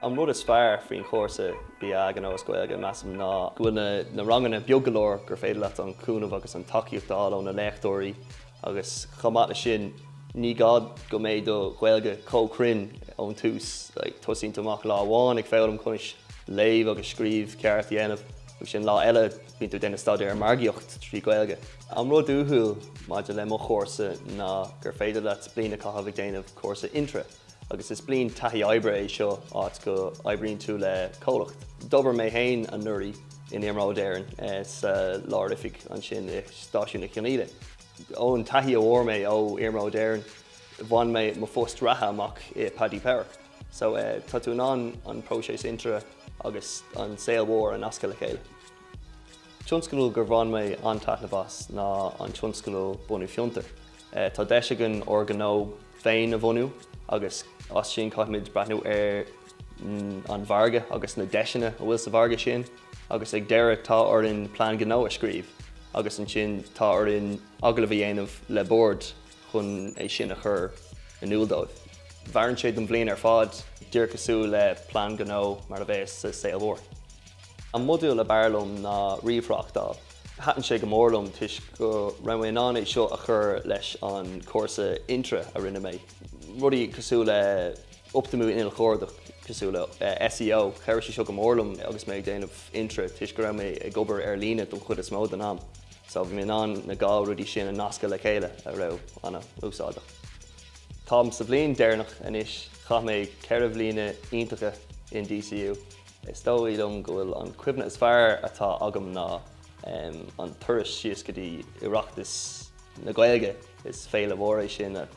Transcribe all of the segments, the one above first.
An rud is fearr faoin chúrsa BA i nGnó is Gaeilge measaim ná go bhfuil na ranganna beag go leor gur féidir leat an cúnamh agus an tacaíocht a fháil ó na léachtóirí, Agus chomh maith le sin, ní gá go mbeadh do Ghaeilge chomh cruinn ón tús, tosaíonn tú amach lá amháin ag foghlaim conas léamh agus scríobh ceart a dhéanamh, agus ansin lá eile bíonn tú ag déanamh staidéar ar margaíocht trí Ghaeilge. An rud uathúil maidir le mo chúrsa ná gur féidir leat bliain a chaitheamh ag déanamh cúrsa Intra. agus is bliain taithí oibre é seo áit go oibríonn tú le comhlacht. D'obair mé fhéin anuraidh in Iarnróid Éireann sa lár oifig ansin i Stáisiún na Cionaoile. Ón taithí a bhfuair mé ó Iarnróid Éireann bhain mé mo phost reatha amach i Paddy Power. So tá tú in ann an próiseas Intra agus an saol mór a nascadh le chéile. Tionscadal gur bhain mé an-taitneamh as ná an tionscadal Bunú Fiontar. Tá deis againn ár gnó féin a bhunú agus as sin caithfimid breathnú ar an mhargadh agus na deiseanna a bhfuil sa mhargadh sin agus ag deireadh tá orainn plean gnó a scríobh agus ansin tá orainn agallamh a dhéanamh le bord chun é sin a chur in iúl dóibh. Mhaireann sé don bhliain ar fad, díreach cosúil le plean gnó mar a bheadh sa saol mór. An modúl ab fhearr liom ná ríomhthráchtáil. Thaitin sé go mór liom toisc go raibh mé in ann é seo a chur leis an chúrsa intra a rinne mé, rudaí cosúil le optamú inneall cuardach cosúil le SEO. Chabhraigh sé seo go mór liom agus mé ag déanamh intra toisc go raibh mé ag obair ar líne don chuid is mó den am so bhí mé in ann na dhá rudaí sin a nascadh le chéile a raibh ana-úsáideach. Táim sa bhliain deireanach anois, chaith mé ceithre bhliana iontacha in DCU. Is dóigh liom go bhfuil an cuimhne is fearr atá agam ná an turas síos go dtí Oireachtas na Gaeilge. Is féile mhór é sin a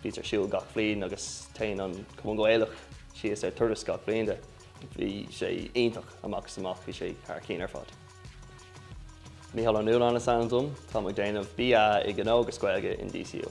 bhíonn ar siúl gach bliain agus téann an Cumann Gaelach síos ar turas gach bliain de. Bhí sé iontach amach is amach, bhí sé thar cinn ar fad. Mícheál Ó Nualláin is ainm dom. Táim ag déanamh BA i Gnó agus Gaeilge in DCU.